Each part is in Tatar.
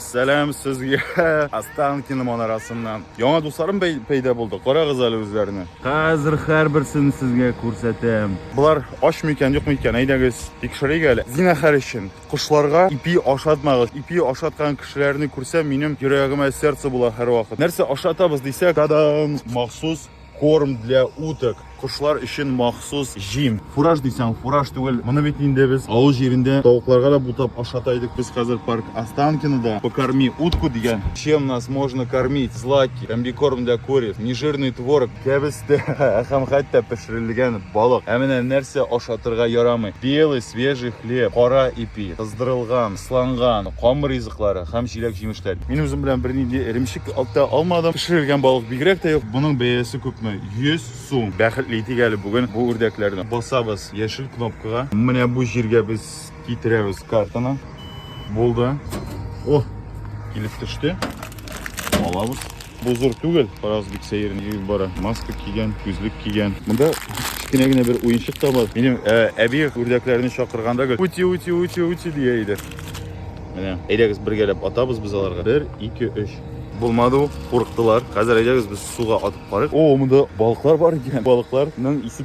Сәлам сезгә Останкино манарасыннан. Яңа дусларым пәйда булды. Карагыз әле үзләренә. Хәзер һәрберсен сезгә күрсәтәм. Болар ач микән, юк микән? Әйдәгез, тикшерик әле. Зинахар өчен кошларга ипи ашатмагыз. Ипи ашаткан кешеләрне күрсәм, минем йөрәгемә сердце була һәрвакыт. Нәрсә ашатабыз дисәк, тадам, махсус Корм для уток, кошлар өчен махсус җим. Фураж дисәң, фураж түгел. Моны бит инде без авыл җирендә тавыкларга да бутап ашата идек. Без хәзер парк Останкинода покорми утку дигән. Чем нас можно кормить? Злаки, комбикорм для куриц, нежирный творог, кәбестә һәм хәтта пешерелгән балык. Ә менә нәрсә ашатырга ярамый. Белый свежий хлеб, кара ипи, кыздырылган, сланган, камыр клары һәм җиләк-җимешләр. Мин үзем белән бернинди эремчек алта алмадым. Пешерелгән балык бигрәк тә юк. Моның бәясе күпме? 100 сум. Бәхетле итик әле бүген бу үрдәкләрне. Басабыз яшел кнопкага. Менә бу җиргә без китерәбез картаны. Булды. О, килеп төште. Алабыз. Бу зур түгел, Фараз бик сәер йөреп бара. Маска кигән, күзлек кигән. Монда кечкенә генә бер уенчык та бар. Минем ә, әби үрдәкләрне чакырганда гел үти үти үти үти дия иде. Менә, әйдәгез бергәләп атабыз без аларга. 1 2 3. Булмады ул, курыктылар. Хәзер әйдәгез без суга атып карыйк. О, монда балыклар бар икән. Балыкларның исе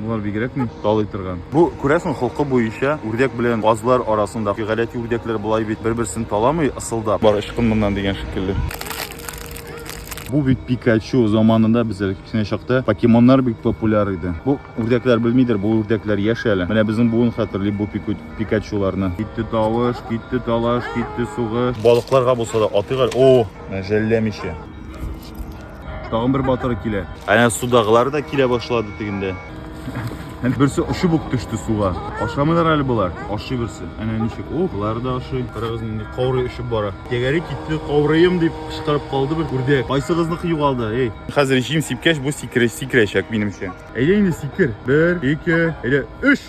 Болар бигрәк ни талый торган. Бу, күрәсең, холкы буенча үрдәк белән казлар арасындагы гадәти үрдәкләр болай бит бер-берсен таламый, ысылдап. Бар, ычкын моннан дигән шикелле. Бу бит Пикачу заманында бездә кечкенә чакта покемоннар бик популяр иде. Бу үрдәкләр белмидер, бу үрдәкләр яшь әле. Менә безнең буын хәтерли бу Пикачуларны. Китте тавыш, китте талаш, китте сугыш. Балыкларга булса да атыйк әле. О, менә жәлләмичә. Тагын бер батыры килә. Әнә судагылар да килә башлады тегендә. Әнә берсе очып ук төште суга. Ашамыйлар әле болар. Ашый берсе. Әнә ничек. О, болар да ашый. Карагыз инде каурый очып бара. Тәгәри китте, каурыем дип кычкырып калды бер үрдәк. Кайсыгызныкы югалды, эй? Хәзер җим сипкәч бу сикерәчәк минемчә. Әйдә инде сикер. Бер, ике, әйдә, өч.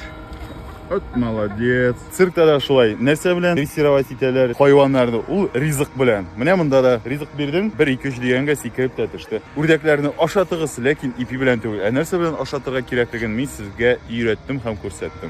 От молодец. Циркта да шулай. Нәрсә белән дрессировать итәләр хайваннарны? Ул ризык белән. Менә монда да ризык бирдең, 1 2 3 дигәнгә сикереп тә төште. Үрдәкләрне ашатыгыз, ләкин ипи белән түгел. Ә нәрсә белән ашатырга кирәклеген мин сезгә өйрәттем һәм күрсәттем.